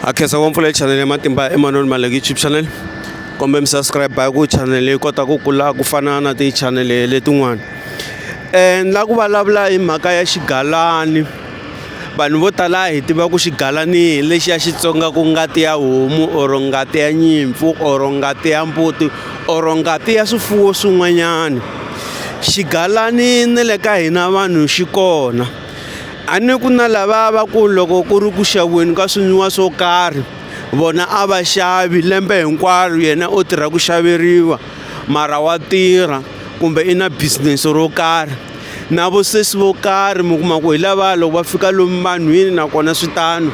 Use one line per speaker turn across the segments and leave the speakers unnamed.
a khensa ku mpfula channel ya matimba emanoni maleki youtube channel kumbe mi subscribe hi ku channel yi kota ku kula ku fana na ti-channel letin'wana um ni la ku vulavula hi mhaka ya xigalani vanhu vo tala hi tiva ku xigalani hi lexi ya xitsonga ku ngati ya homu or ngati ya nyimpfu or ngati ya mbuti or ngati ya swifuwo swin'wanyana xigalani ni le ka hina vanhu xi kona a ni ku na lava va ku loko ku ri ku xaviweni ka swinwiwa swo karhi vona a va xavi lembe hinkwaro yena o tirha ku xaveriwa mara wa tirha kumbe i na business ro karhi na vosesi vo karhi mi kuma ku hi lava loko va fika lomu vanhwini nakona swi tano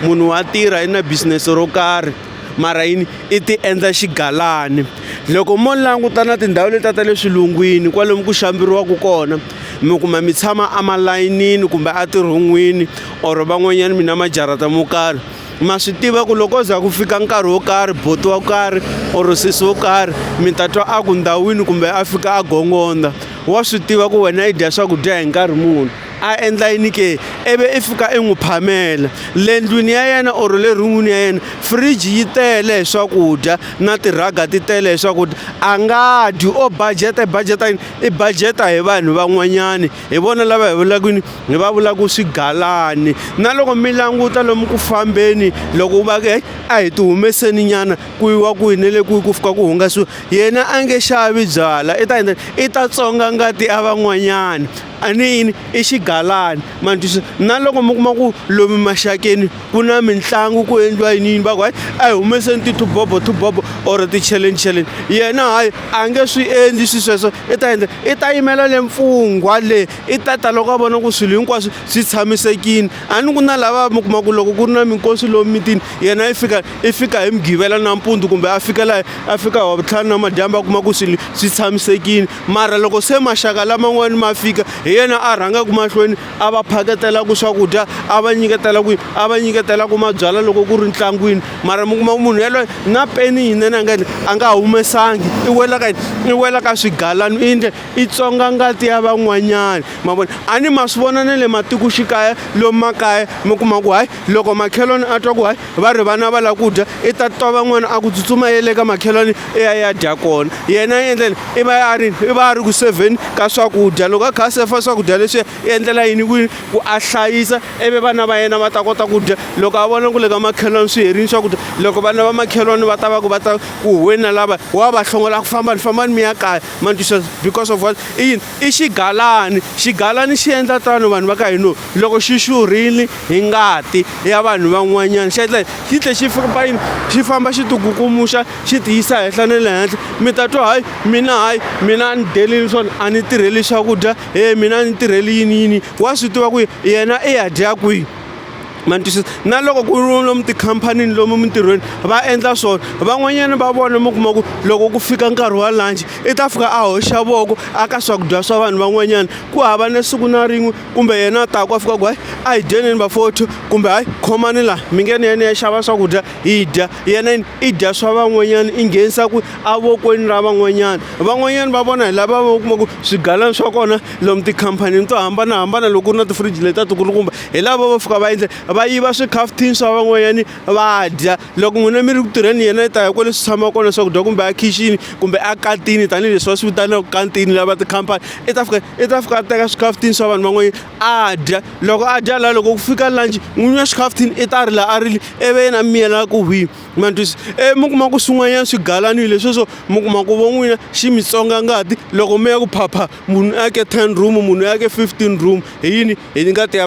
munhu wa tirha i na business ro karhi mara yini i ti endla xigalani loko mo languta na tindhawu letiya ta le swilungwini kwalomu ku xambiriwaka kona mi kuma mi tshama emalayinini kumbe a tirhon'wini or van'wanyana mi na majarata mo karhi ma swi tiva ku loko za ku fika nkarhi wo karhi boti wo karhi or sesi wo karhi mi ta twa a ku ndhawini kumbe a fika a gongondza wa swi tiva ku wena i dya swakudya hi nkarhi muni a endla yini ke ivi i fika i n'wi phamela le ndlwini ya yena or le run'wini ya yena fridge yi tele hi swakudya na tirhaga ti tele hi swakudya a nga dyi o budget-a i budget-a yini i budget-a hi vanhu van'wanyani hi vona lava hi vulaka yini hi va vulaka swigalani na loko mi languta lomu ku fambeni loko u va ku heyi a hi ti humeseni nyana ku yiwa ku yini le ku ku fika ku hungasiwa yena a nge xavi byala i ta endla i ta tsonga ngati ya van'wanyani a ni yini i xigalani ma ni twisisa na loko mi kuma ku lomu maxakeni ku na mitlangu ku endliwa yini yini va ku hayi a hi humeseni tithubobo thubobo or ticheleni cheleni yena hayi a nge swi endli swi sweswo i ta endla i ta yimela le mfungwa le i ta ta loko a vona ku swilo hinkwaswo swi tshamisekile a ni ku na lava mi kuma ku loko ku ri na minkosi lomu mitini yena i fika i fika hi mugqivela nampundzu kumbe a fika laha a fika hi wavutlhanu namadyambu a kuma ku swilo swi tshamisekile mara loko se maxaka laman'wani ma fika hi yena a rhangaka mahlweni a va phaketelaka swakudya a va nyiketela kwihi a va nyiketelaka mabyala loko ku ri ntlangwini mara mi kuma ku munhu yaloye na peni yinene a nga yini a nga humesangi i wela ka yini i wela ka swigalani i yindle i tsonga ngati ya van'wanyani ma vona a ni ma swi vona na le matikoxikaya lomu makaya mi kuma ku hayi loko makhelwani a twa ku hayi va ri vana va lava ku dya i ta twa van'wana a ku tsutsuma ye le ka makhelwani i ya ya dya kona yena i endleni i va a ri i va a ri ku sevheni ka swakudya loko a kha a sefa swakudya leswiya i endlela yini ku ku a hlayisa ivi vana va yena va ta kota ku dya loko a vona ku le ka makhelwani swi herini swakudya loko vana va makhelwani va ta va ku va ta ku huweni na lava wa va hlongola ku fambani fambani mi ya kaya ma because of what i yini I xigalani xigalani xi endla tano vanhu va ka hino loko xi xurhile hi ngati ya vanhu van'wanyana xi endla xi tlhe xi famba yini xi famba xi tikukumuxa xi ti yisa henhla na le henhla mi ta twa hayi mina hayi mina a ni delini swona a ni tirheli swakudya he mina a ni tirheli yini yini wa swi tiva ku yena i ya dya kwihi ma ni twisisa na loko ku ri lomu tikhampanini lomu mintirhweni va endla swona van'wanyana va vona mi kuma ku loko ku fika nkarhi wa lunch i ta fika a hoxa voko a ka swakudya swa vanhu van'wanyana ku hava na siku na rin'we kumbe yena a ta ku a fika ku hayi a hi dyeneni vafotho kumbe hayi khomani laha mi nge ni yena ya xava swakudya hi dya yena yini i dya swa van'wanyana i nghenisa ku avokweni ra van'wanyana van'wanyana va vona hi lava va kuma ku swigalana swa kona lomu tikhampanini to hambanahambana loko ku ri na tifriji leti a tikulukumba hi lava va fika va endle va yiva swikhafuthini swa van'wanyani va dya loko n'wina mi ri ku tirheni yena i ta ya kwale swi tshama kona swakudya kumbe a khixini kumbe a katini tanihileswi va swi vitanaka kantini lava tikhampani i ta fika i ta fika a teka swikhafuthini swa vanhu van'wanyana a dya loko a dya laha loko ku fika lanji n'winyi wa xikhafuthini i ta ri laha a rile ivi yena mi yela ku hwi ma ntwisa e mi kuma ku swin'wanyana swi galanile lesweswo mi kuma ku vo n'wina xi mi tsonga ngati loko mi ya ku phapha munhu a ke ten room munhu a ke fifteen room hi yini hi ngati ya